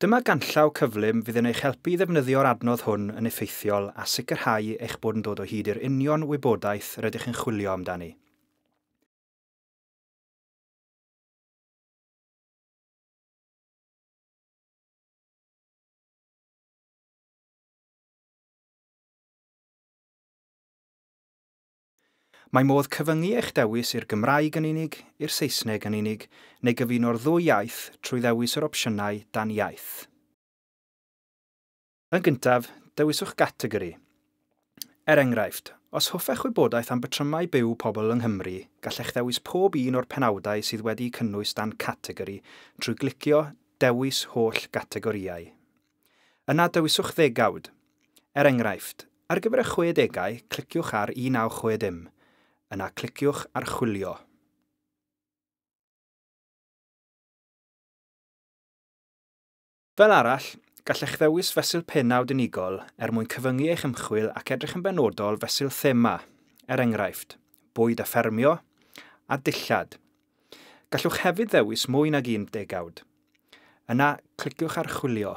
Dyma ganllaw cyflym fydd yn eich helpu i ddefnyddio'r adnodd hwn yn effeithiol a sicrhau eich bod yn dod o hyd i'r union wybodaeth rydych yn chwilio amdani. Mae modd cyfyngu eich dewis i'r Gymraeg yn unig, i'r Saesneg yn unig, neu gyfuno'r ddwy iaith trwy ddewis yr opsiynau dan iaith. Yn gyntaf, dewiswch gategori. Er enghraifft, os hoffech wybodaeth am batrymau byw pobl yng Nghymru, gallech ddewis pob un o'r penawdau sydd wedi'u cynnwys dan categori trwy glicio Dewis Holl Gategorïau. Yna dewiswch ddegawd. Er enghraifft, ar gyfer y chwedegau, cliciwch ar 1960. Yna cliciwch Archwilio. Fel arall, gallech ddewis fesul pennawd unigol er mwyn cyfyngu eich ymchwil ac edrych yn benodol fesul thema, er enghraifft, bwyd a ffermio, a dillad. Gallwch hefyd ddewis mwy nag un degawd. Yna, cliciwch ar Chwilio.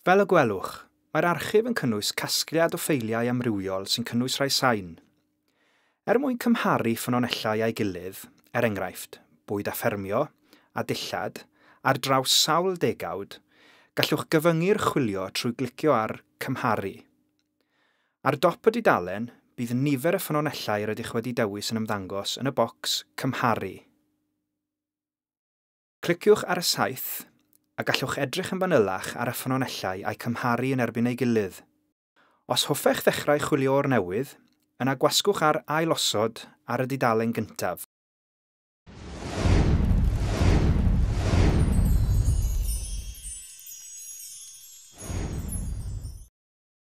Fel y gwelwch, mae'r archif yn cynnwys casgliad o ffeiliau amrywiol sy'n cynnwys rhai sain. Er mwyn cymharu ffynonellau â'i gilydd, er enghraifft, bwyd a ffermio, a dillad, ar draws sawl degawd, gallwch gyfyngu'r chwilio trwy glicio ar Cymharu. Ar dop y dudalen, bydd nifer y ffynonellau rydych wedi dewis yn ymddangos yn y bocs Cymharu. Cliciwch ar y saeth, a gallwch edrych yn fanylach ar y ffynonellau a'u cymharu yn erbyn ei gilydd. Os hoffech ddechrau chwilio o'r newydd, yna gwasgwch ar Ailosod ar y dudalen gyntaf.